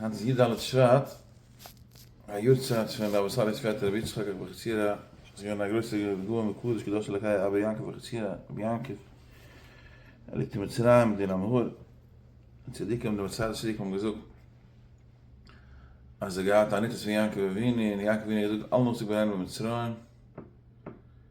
היינט איז י ד שבט, א יארצייט פון רבי סאלי'ס פעטער רבי יצחק אבוחצירא, וואס איז געווען א גרויסע גאון וקדוש קדוש אלוקי אבא יעקב אבוחצירא, רבי יעקב, עלית מצרים דין המהר א, צדיקים די מסילת צדיק האבן געזאגט אז ער האט געהאט א ניצוץ פון יעקב אבינו און יעקב אבינו האט געזאגט אל נא צו בנינו במצרים,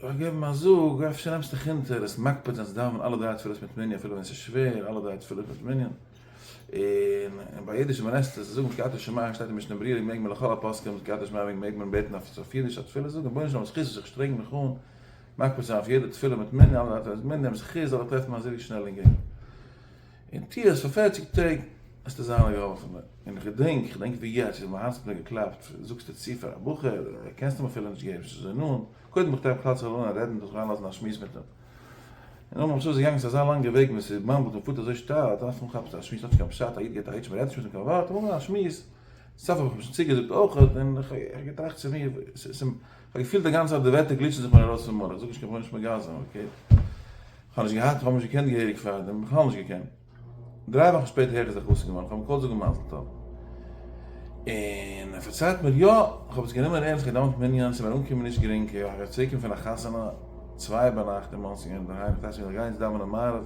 זאל איך געבן א זאג, אפשר נעמסט דיך אונטער, ביסט מקפיד זיין צו דאווענען אלע דריי תפילות מיט מנין אפילו ווען עס איז שווער, אלע דריי תפילות מיט מנין, און און ביי אידיש ווען עסטו צו זאגן קריאת שמע שטייט אין משנה ברירה מעג מען לכל הפוסקים אז קריאת שמע מעג מען בעטן אויף אויף אידיש א תפילה זאגן, רבונו של עולם זכותו איך שטרענג מיך אן מקפיד צו זיין אויף יעדע תפילה מיט מנין אלע דריי תפילות מיט מנין, זכות זאל איך טרעפן אזוי שנעל און גרינג. און טוה עס פאר פֿערציק טעג, וועסטו זיין א געהאלפענער. און כ'דענק, כ'דענק ווי יעצט, ווי מיין הארץ האט מיר געקלאפט, זאגסטו צו פאר א בחור, קענסט אים אפילו נישט געבן, ס'איז אזוי נאנט, קודם איך טרעף כלל צו אליין רעדן, דורך אריינלאזן א שמועס מיט אים. און נאכדעם אפשר איז געגאנגען, ס'איז אזא לאנגע וועג ווען ס'באמבלט און פארט אזוי שטייל, אז אנפאנג כאפסטו א שמועס האט נישט קיין פשט, א איד געט א היטש מ'רעדט נישט מיט אים קיין ווארט, אמאל א שמועס, סוף האב איך אים שוין צוגעזאגט אויכעט, און כ'האב געטראכט צו מיר, כ'האב געפילט די גאנצע צייט די ווערטער גליטשן זיך מיר ארויס פון מח, איך זאג נישט קיין פאנישמענט גאזען אבער אקעי. כ'האב נישט געהאט, כ'האב נישט געקענט געהעריג פארדעם, בכלל נישט געקענט. דריי וואכן שפעטער הער איך זיך חתונה געווארן, כ'האב אים געקאלט זאגן מזל טוב. און ער פארציילט מיר, יא! כ'האב עס גענומען ערנסט, געדאווענט מנין, ס'איז מיר אנגעקומען נישט גרינג, כ'הער איך צוריקקומען פון א חתונה צוויי ביינאכט אין מאנסי אינדערהיים, כ'דאכט מיר כ'גיי יעצט דאווענען מעריב,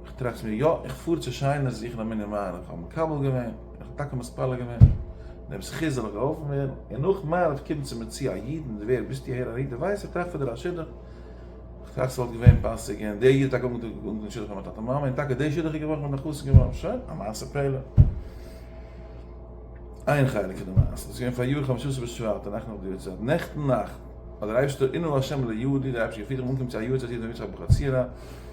איך טראכט מיר, יא, איך פאר צו שיינער זוכן א מנין מים, איך האב מקבל געווען, און איך האב טאקע מתפלל געווען, און דעם זכות זאל איך געהאלפן ווערן, און נאך מעריב קומט צו מיר צו א איד, און דער ווער ביסטו אהער אריין, דו ווייסט, איך טראכט פאר דיר א שידוך, איך טראכט ס'וואלט געווען פאסיג, און דער איד האט טאקע אנגעטון שידוך מיט מיין טאטע מאמע, און טאקע דער שידוך איז געווארן, איך בין דאך חתן געווארן, שוין, א מעשה פלא. איין חלק פון די מעשה, דאס איז געווען פאריאר חמשה עשר בשבט, די נאכט נאך די יארצייט, נעכטן נאכט, האט דער אייבערשטער, עננו לה' לעיודי, דער אייבערשטער געפירט, איך בין אנגעקומען צו א יארצייט איד אין משפחת אבוחצירא,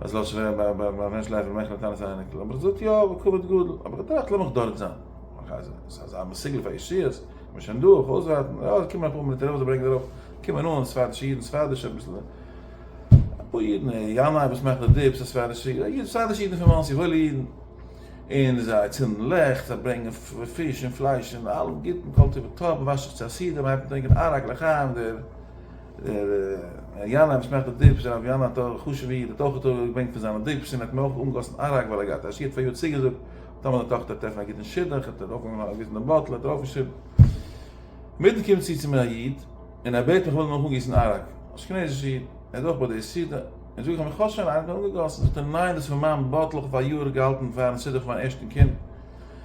אז לאזט זיך ווערן ביי א מענטש לייפער מחמת טענת אייניקל, האב איך געזאגט יא בכבוד גדול, אבער געטראכט לאמיך דארט זיין, ס'איז אזא מסוגל פאר אישיות, מ'איז שוין דא, אויף אויסווארטן, יא ס'קומען אפאר מיליטער וואס ברענגען ארויף, קומען אן ספרדישע אידן, ספרדישע אביסל, אפאר אידן, ינאי וואס מאכט די דיפס, א ספרדישע איד, א איד, ספרדישע אידן פון מאנסי, וואוילע אידן, און זיי צינדן לעכט, זיי ברענגען פיש און פלייש און אלעם גוטן, כל טוב וטוב, מ'וואשט זיך צו א סידור, מ'הייבט אן טרינקען עראק לחיים, דער. דער ר' יאנא אבן שמחת הדבש, דער ר' יאנא האט א חשובע איד, האט אויך טאהר געברענגט פון זיינע דבש, און האט מיר אויך אנגעגאסן אראק ווייל ער געהאט א שידוך פאר יאר צוגעזאגט, טאמער די טאכטער טרעפן א גוטן שידוך, האט ער אויך אנגעוויזן דעם באטל, האט ער אויך געשריבן. אינמיטן קומט צו צו מיר א איד, און ער בעט מיך איך זאל אים אויך אנגיסן אראק, אשכנזישע איד, ער איז אויך ביי די סעודה, און זאג איך אים איך האב שוין אראק אנגעגאסן, זאגט ער ניין דאס איז פון מיין באטל איך האב פאר א יאר געהאלטן פארן שידוך פון מיין ערשטן קינד,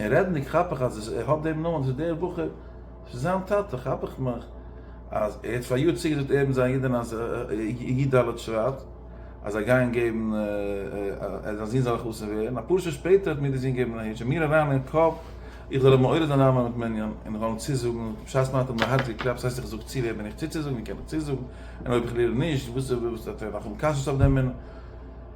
און רעדנדיג כאפ איך אז ער האט דעם נאמען, ס'איז דער בחור, ס'איז זיין טאטע, כאפ איך מיך אז ער האט פאריאר צוגעזאגט ער מיט זיין אידענע אז י ד שרייט אז זיי גייען געבן אז זיין זין זאל א חתן ווערן, אפאר שעה שפעטער האט מיר דער זין געבן א היטש און מיר אריין אין קאפ איך זאל אים מעורר זיין ארייננעמען מיט מנין און איך זאל אים צוזאגן, בשעת מען האט אים די הארץ געקלאפט, ס'הייסט איך זאג צו ווער בין איך צוצוזאגן, ווי קען איך צוזאגן, און אויב איך לערן נישט, וואס וועט ער נאך האבן קשיות אויף דעם מנין.